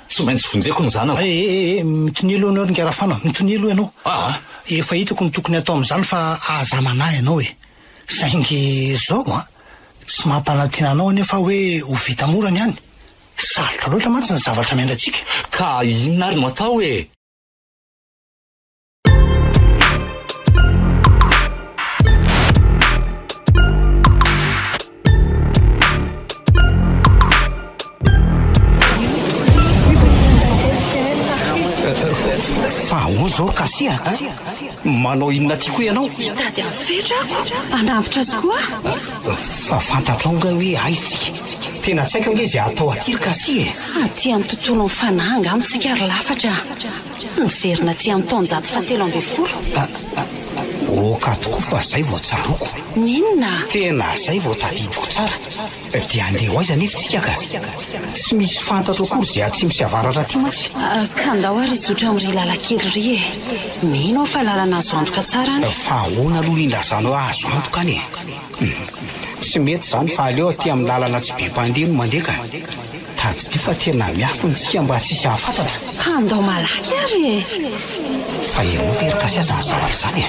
Tsy maintsy vonjeko ny zanako. Eh eh eh mitonia aloha ianao ry Ngarafana, mitonia aloha ianao. Ah ah. Efa hitako ny tokony hatao amin'izany fa aza manahy ianao e. Saingy izao an, tsy mampanantena anao anefa aho hoe ho vita mora ny any. Sarotra loatra mantsy ny zavatra miandry antsika. Ka inona ary no atao e? manao inona ty koa ianao mitady any fetra ako anavotra azy koa fa fantatrao nga hoe aiztsika tena tsaiko ange izay atao aty ry kasi e aty amin'ny tontolo ny fanahy nga amintsika ry lafatra Miverina aty amin'ny taonjato fahatelo ambin'ny folo. Oka tokoa fa zay vao tsaroako. Ny inona? Tena zay vao tadidiko tsara. Dia andeha ho aiza anefa isika ka? Tsy misy fantatro akory izay atsimo sy avaratra aty mantsy. Ka ndao ary hizotra amin'ry lalan-kely ry e. Mino aho fa lalana azo antoka tsara any. Fa ahoana aloha indray izany hoe azo antoka any e? Tsy mety izany fa aleo aty amin'ny lalana tsy be mpandeha no mandeha ka. Tadidio fa tena miafina isika mba tsy hisy hahafantatra. Ka andao malaky ary e! Fa ianao ve ry Gasy aza ny zavatra izany e!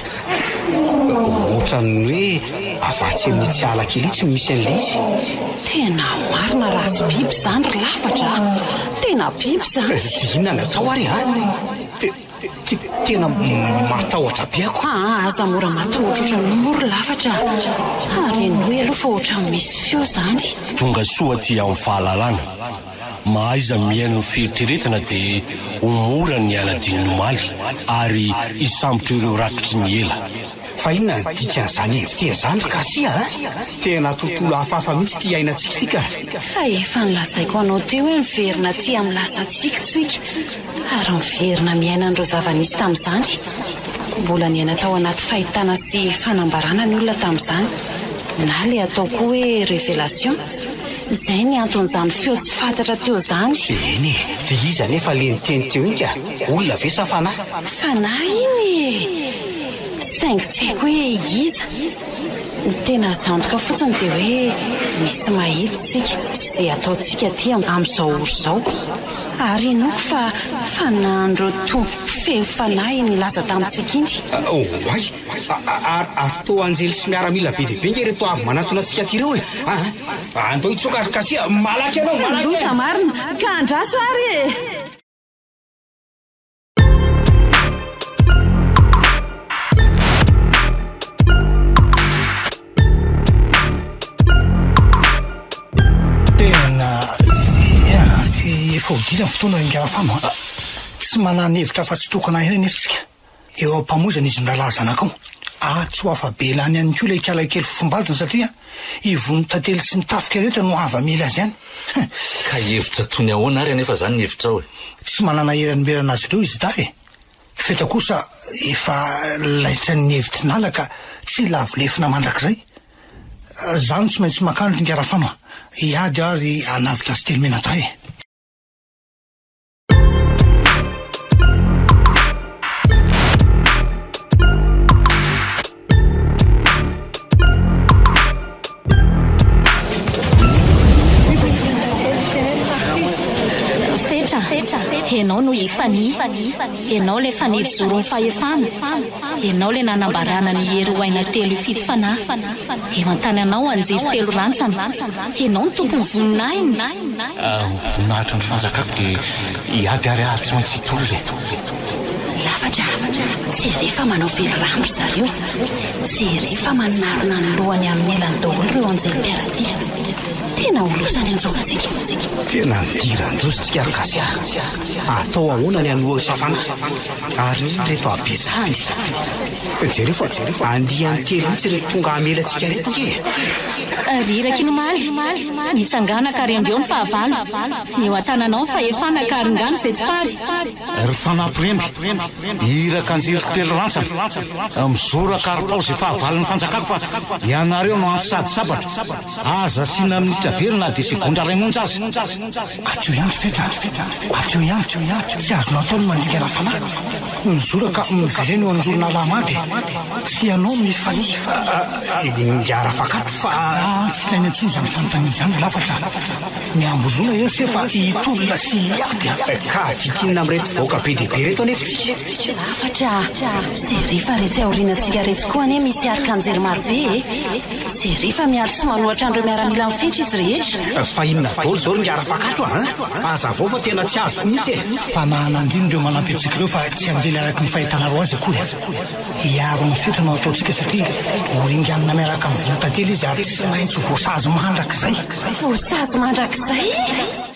Ohatran'ny hoe avatsy amin'itsy ala kely itsy no misy an'ilay izy. Tena marina raha tsy biby izany ry lafatra a! Tena biby izany! Dia inona no atao ary an! Tena matahotra be ako. Aa aza mora matahotra ohatran'io moa ry lafatra a! Renoy aloha fa ohatran'ny misy feo zany. Tonga soa aty amin'ny fahalalana. Mahaiza mihaino ny fieritreretana dia ho mora ny hanadino ny omaly ary hisambotra ireo rakitry ny ela. Fa inona ny dikan'izany invité izany ry Garcia a! Tena tontolo hafahafa mihitsy ity iainantsika ity ka! Fa efa nolazaiko anao teo hoe miverina aty amin'ny lasantsika isika. Ary miverina miaina an'ireo zava-nisy tamin'izany. Mbola niaina tao anaty fahitana sy fanambarana ny olona tamin'izany, na ilay atao koa hoe révélation. Izay ny anton'izany feo tsy fantatra teo izany. Eny e! Dia iza anefa ilay niteny teo iny ka? Olona ve sa fanahy? Fanahy iny e! Saingy tsy haiko hoe iza. Ny tena azo antoka fotsiny dia hoe misy mahita isika sy izay ataontsika aty amin'izao ora izao. ary henoiko fa fanahin'ireo tompo mpifehy fanahy nilaza tamintsika iny. Oay! Ary ary toa anjely sy miaramila be dia be nge ireto avy manatona antsika aty ireo e! Aa! Andao hitsoaka ry Kasia a! Malaky ianao, malaky e! Loza marina, ka andraso ary e! Fahodiana ny fotoana ingahy Fano a! Tsy manana hevitra afa-tsy tokana ihany anefa isika. Eo am-pamoizana izy ny rahalahy zanakao. Atsy ho afa-belany ihany koa ilay ikala kely fofombadiny satria Ivon'ny tantely sy ny tafika rehetra no hava mila azy any. Ka hihevitra toy ny ahoana ary anefa izany ny hevitrao e? Tsy manana hery hanomberana azy ireo izy dahy e! Fetra kosa efa laitran'ny hevitrin'ala ka tsy lavo lefona mandrakizay. Za no tsy maintsy makany ry Ngarafano a! Hiady aho ry Anavidrasitelomena dahy e! Ianao no i Fani, ianao ilay fanely zoron'ny fahefana. Ianao le nanambarana ny hery ho aina telo hifidy fanahy Eo an-tananao anjely telo rantsana Ianao ny tompon'ny voninahiny Ny voninahitry ny fanjakako dia hiady ary ary tsy maintsy hitory e! Lafatra, tsy ere fa manao very rano ry zareo Tsy ere fa manarona ny lohany amin'ny elany daholo ireo anjely mpiara tia Tena ho loza ny anjorontsika Tena nidiran-doza isika ry Gasy a! Atao ahoana ny an'i Hohosa fanahy? Ary inona ireto habetsahany? Jereo fa andiany telo mihitsy ireto tonga hamela antsika ireto ange e! Ry iraky ny omaly, mitsangana ka rembeo ny fahavalo. Ny eo an-tananao ny fahefana ka aringano izay tsy pary. Ry fanampy remby, iraka an-jiriko telo rantsana, mizoraka ary paozy efa havalon'ny fanjakako fa ianareo no anty sady sabatra. Aza asiana minitra very na dia segondra iray monja aza. Aty eo ihany fetra a! Aty eo ihany! Tsy azonao atao ny mandika rafalahy! Mijoro ka miverena eo an'zoronala hamaly e! Tsy ianao no hifanihy fa ingahy Rafakatro fa. Aah tsy ilaina intsony izany fanontaniana izany lafatra a! Miambozona ery se fa hitolona sy hiady a! Ka vitinina amin'ireto vahoaka be dia be ireto anie fitsika! Lafatra a! Jereo fa retsy aorianantsika retsy koa anie misy arkanjely marobe e! Jereo fa miady tsy manoatra an'ireo miaramila mifetra izy rehetra. Fa inona daholo izao ry ngara fakato a! Aza avao fa tena tsy azoko mihitsy e! Fa mahanandrina ireo manampy antsika ireo fa tsy hanjely araka ny fahitanareo azy akory. Hiaro ny fetra no ataontsika satria ho ringanina miaraka amin'ny volontantely izy ary tsy maintsy ho voasazy mandrakizay. Voasazy mandrakizay?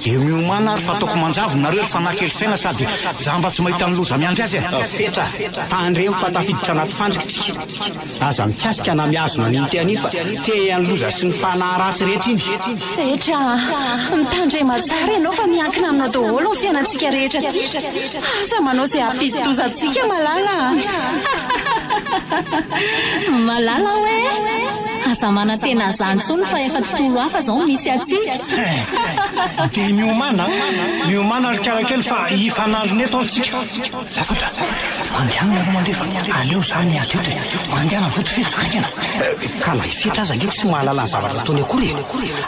Dia miomana ary fa ataoko manjavona nareo ry fanahy kely saina sady jamba tsy mahita ny loza miandry azy a! Fetra, tandremo fa tafiditra anaty fandrika isika. Aza mikasika na mihazona an'iny te an'iny fa te an'ny loza sy ny fanahy ratsy rehetra iny. Fetra, mitandrema tsara ianao fa miankina aminao daholo ny fiainantsika rehetra aty. Aza manao izay hampidi-doza antsika malala a! Malala hoe. Aza manantena azany tsony fa efa tontolo hafa zao no misy atsika. Dia miomana, miomana ry karakely fa hifanandrina eto atsika. Zavatra, mandianina aloha mandefa, aleo za miady eto e, mandiana vody fetra haingana. Ka na i fetra aza ange tsy mahalala ny zavatra ataony akory e,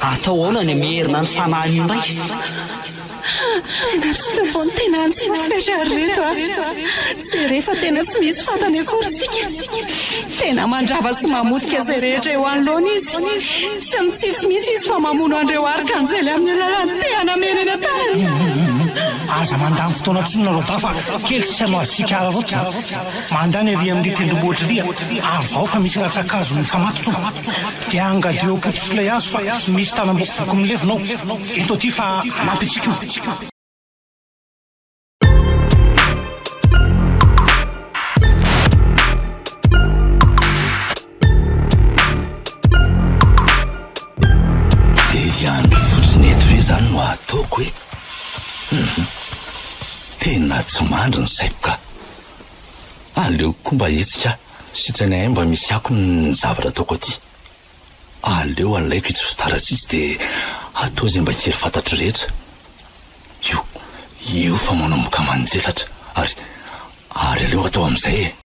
atao ahoana ny mierina ny fanahin'io ndray. Natsotra vao ny tena nitsofoka ry reto a! Izay rehefa tena tsy misy fantany akory tsika. Tena mandrava sy mamotika izay rehetra eo anoloany izy. Tsy mitsitsy mihitsy izy fa mamono an'ireo arkanjely amin'ny alalan'ny tehany amena eny an-tanany. Aza mandany fotoana intsony nareo dahy fa kely sisa no azontsika hararaotina. Mandany ery amin'ny tendrombohitr'Iria ary vao fa misy ratsan-kazo mifamatotra eo. Dia angadio ao Potosi lay hazo fa misy tanam-boko voky milevina ao. Ento aty fa hanampy antsika io. Tena tsy mandry ny saiko ka. Aleoko koa mba hetsika. Sitrany ahay mba misy akony ny zavatra ataoko aty. Aleo alaiko itsy fitara tsitsy dia atao izay mba hery fantatro rehetra. Io, io fa manomboka manjelatra ary, ary aleo atao amin'izay e!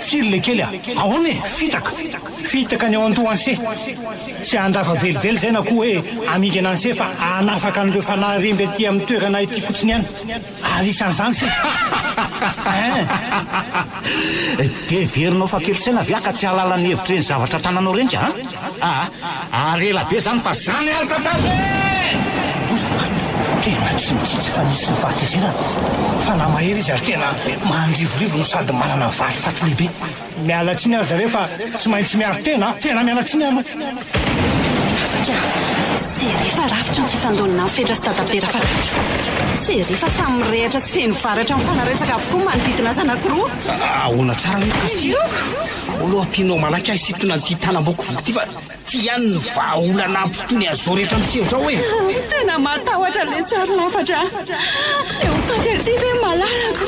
Firy le kely a! Ahoana e! Fitaka! Fitaka ny ao an-tohanse! Tsy handrava velively izay na koa hoe hamidy ananse fa hanafaka an'ireo fanahy remby aty amin'ny toerana ity fotsiny ihany! Ary isan'izany se! Hein! Dia heverinao fa kely saina ve aho ka tsy hahalala ny hevitr'ireny zavatra tananao ireny ka an! Aa ary ela be zany fa zany ary tantara ee! Oza marina, tena tsy mitsitsy fa nisy ny fahatezerana. Fanahy mahery izy ary tena mandrivorivo no sady manana valifaty lehibe. Miala tsiny ary zareo fa tsy maintsy miaro tena a! Tena miala tsiny aloha. Hafatra a! Tsy ery fa rafitra ny fifandonana ny fetra sy dadabe Rafakatso. Tsy ery fa samy mirehatra sy feno varatra mifanaretsaka avokoa ny manodidina azy anankiroa. Ahoana tsara hoe kasiaka? Aolo Apino malaky ahy sitona an'ity tanamboko voko ty fa ty ihany ny vahaolana ampitony an'izao rehetra miseho zao e. Tena matahotra le sary lafatra. Te ho faty aty ve malalako?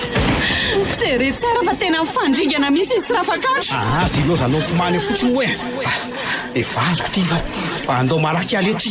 Jere tsara fa tena mifandringana mihitsy izy Rafakatro. Aha, zilozanao tomany eo fotsiny hoe. Efa azoko ty fa andao malaky aleha ty.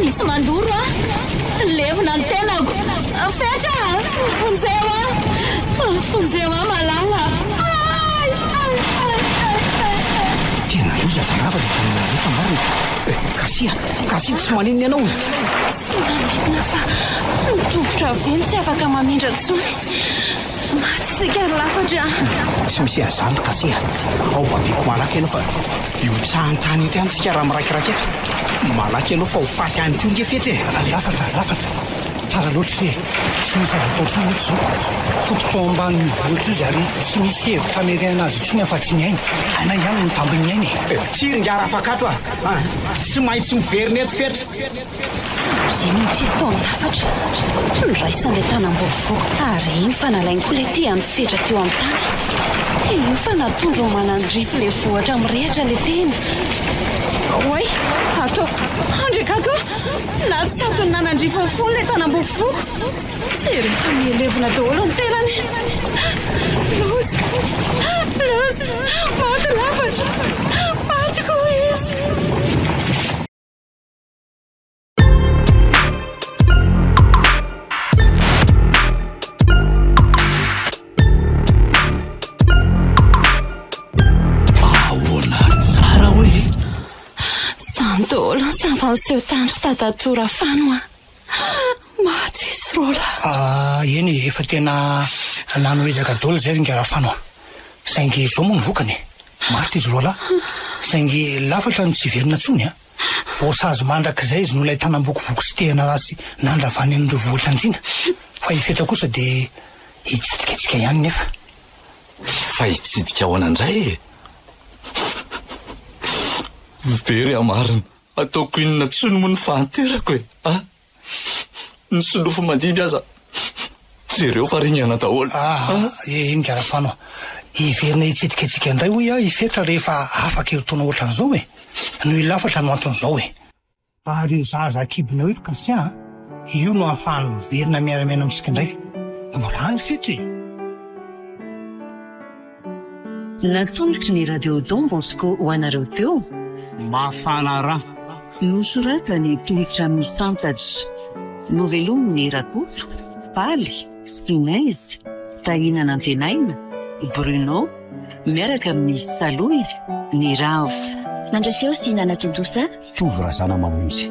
Misy mandoro aho. Levona ny tenako. Fetra! Vonjeo aho. Vonjeo aho malala. Ay! Ay! Ay! Ay! Tena loza fa lava ilay tanana ireto marina e! Eh, Kasia! Kasia tsy maninona ianao e! Tsy maninona fa ny tongotra ve no tsy afaka mamindra intsony? Maty isika ry lafatra a! Tsy misy an'izany Kasia a! Ao babeko malaky ianao fa hihotsahan'ny tany eto ihany isika raha miraikiraika eto. Malaky ianao fa ho faty any koa ange fetra e! Ry lafatra, lafatra! Tara loatra ity e! Tsy misy azo atao intsony eto izao. Foko tao ambanin'io vohitra io izy ary tsy misy hevitra hamerehana azy intsony afa-tsy ny ainy. Hainay ihany ny tambin'ny ainy e! Ty ry ngara afakato a! Tsy maintsy miverina eto fetra! Eny no tsy ataon-javatra. Niraisany ilay tanam-baovao ary eny fa nalainy koa ilay tehany fetra teo amin'ny tany. Eny fa natondrony manandrify ilay vohitra mirehitra ilay tehiny. Oay! Atao! Andry gaga aho! Natsatony nanandrify ny fony ilay tanam-baovaoko. Izay rehefa nihelevina daholo ny tenany. Loza! Loza! Maty lafatra! Maty koa izy! seho tany sy tadatora fano a maty sy rola ah, eny efa tena nano ezaka dola zay ringa rafano saingy izao moa ny vokany maty izy rola saingy lafatra ny tsy verina tsony a Voasazy mandrakizay izy noho ilay tanam-bokovoko sy tehana ratsy nandravany amin'ireo voajanjiana. Fa i Fetra kosa dia hitsidika antsika ihany nefa. Fa hitsidika ahoana indray e? Very aho marina. Ataoko inona tsony moa ny fahanterako e? Ah! Ny solofo mandimby aza jereo fa ringana daholo. Ah, eh, iny garafano. Hiverina hitsidikadika indray hoy aho i Fetra rehefa afaka eo taona ohatran'izao e. Noho io lafatra no anton'izao e. Ary io zaza akibonao io ry Kasia a, io no ahafahany miverina miara-miaina amintsika indray. Mbola any Fetra e. Natolotry ny Radio Don Bosco ho anareo teo. Mafana ra. Nosoratany tohitra amin'ny santatra. Novelomin'i Rakoto, Faly, Sinez, Tahinan'Antenaina, Bruno, miaraka amin'ny Saloy, Ny Ravo. Nandray feo sy nanatontosa. Tovo Razanamanonjy.